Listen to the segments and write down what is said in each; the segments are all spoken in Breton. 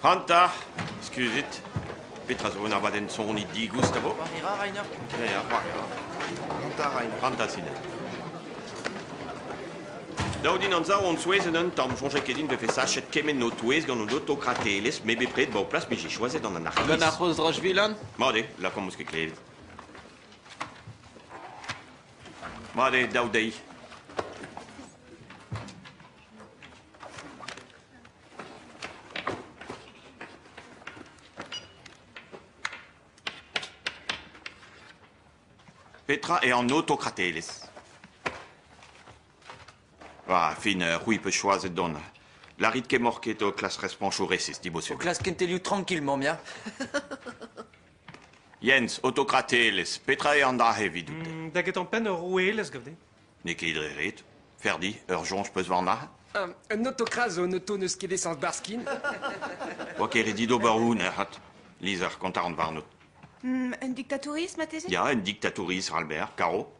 Hanta! Skuzit. Petra zo un abadenn soniñ digoust a vo? C'hoari ra Reiner? Ya, c'hoari ra. Hanta Reiner. Hanta Sinet. Daou din amzer on souezhet un tamm. Soñjait ket din vefe sachet kement ho touez gant an autokratelezh m'eo bepred ba ho plas met j'ai choisi d'an anarchiste. Gant ar c'hozh Rochvilan? Mat eo, lakaomp eus ket klevet. Mat eo dav dezhi. Petra eo an autokratelezh? War fin c'hwi 'peus choazet dont. Lârit kemmoc'h ket ho klask respoñsoù resis, dibosul. O klask kentelioù trankill, mamm ya. Jens, autokratelezh, petra eo an dra-se evidout? Da getañ-penn ur roueelezh gav-din. N'eo ket dre ret. Ferdi, ur soñj 'peus warnañ? Un autokras zo un auto n'eus ket esañs barskin. Oa ket ret dit ober un erc'hat. Lizher, kontañ ran warnot. un diktatouriz marteze? Ya, un diktatouriz, Albert, karo.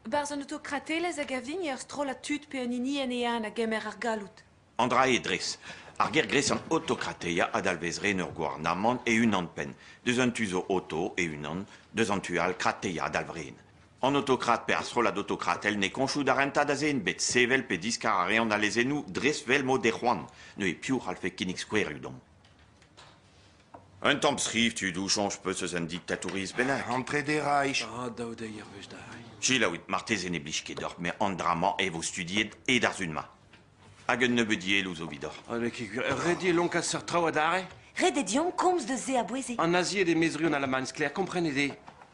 Barzh un autokratelezh a gav din eo ur strollad tud pe un hini en eeun a gemer ar galloud. An dra-se dres. Ar gêr-gres an Autokrateia a dalvez ren ur gouarnamant e-unan-penn, deus un tu zo Oto e-unan, deus an tu all Krateia a dalv ren. An autokrat pe ar strollad autokratel ne koñchoù da rentañ da zen bet sevel pe diskar a reont al lezennoù dres 'vel m'o dez c'hoant. Neuze piv a c'hallfe kinnig skouerioù deomp? Un tamm skriv tudoù soñj 'peus eus un diktatouriezh bennak? An trede Reich. Ah, daou deiz er wech da c'hai. Selaouit, marteze ne blij ket deoc'h, met an dra-mañ e vo studiet e-darzh hun-mañ. Hag un nebeud yelloù zo evidoc'h. Ha n'eo ket gwir. Ret eo lonkaat seurt traoù adarre? Ret eo deomp komz deus se a-bouez-se. An nazied e mezriou an Alamagn sklaer, komprenit-e?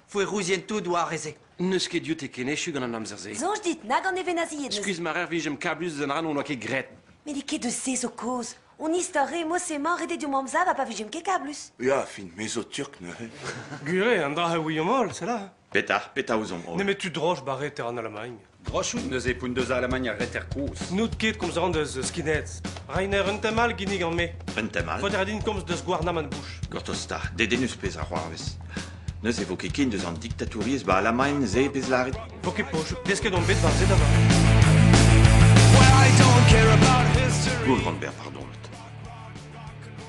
Foerouzien tout oar e-se. N'eus ket dioute ken echu gant an amzer-se. Soñj dit, nag an nevenazied n'eus. Skuizh ma rer vijemp kablus eus an ra n'hon oa ket graet. Met n'eo ket deus se zo kaoz. Hon istor re mod-se-mañ ret eo deomp amzav ha pa vijemp ket kablus. Ya, fin, me zo turk neuze. Gwir eo, an dra a ouiomp holl, sella. Petra, petra ouzomp holl Nemet tu droch ba reter an Alamagn. Drochout neuze poun deus Alamagn ar reter kozh. N'out ket komz an deus eus Skinheads. Rainer un tem all ginnig gant me. Un tem all Faoter din komz deus gouarnamant Bush. Gortoz ta, dedennus pezh a c'hoarvez. Neuze vo ket ken deus an diktatouriezh ba Alamagn se pezh lâret Vo ket poch, desket on bet war se da vat. Goulrandberg, pardon.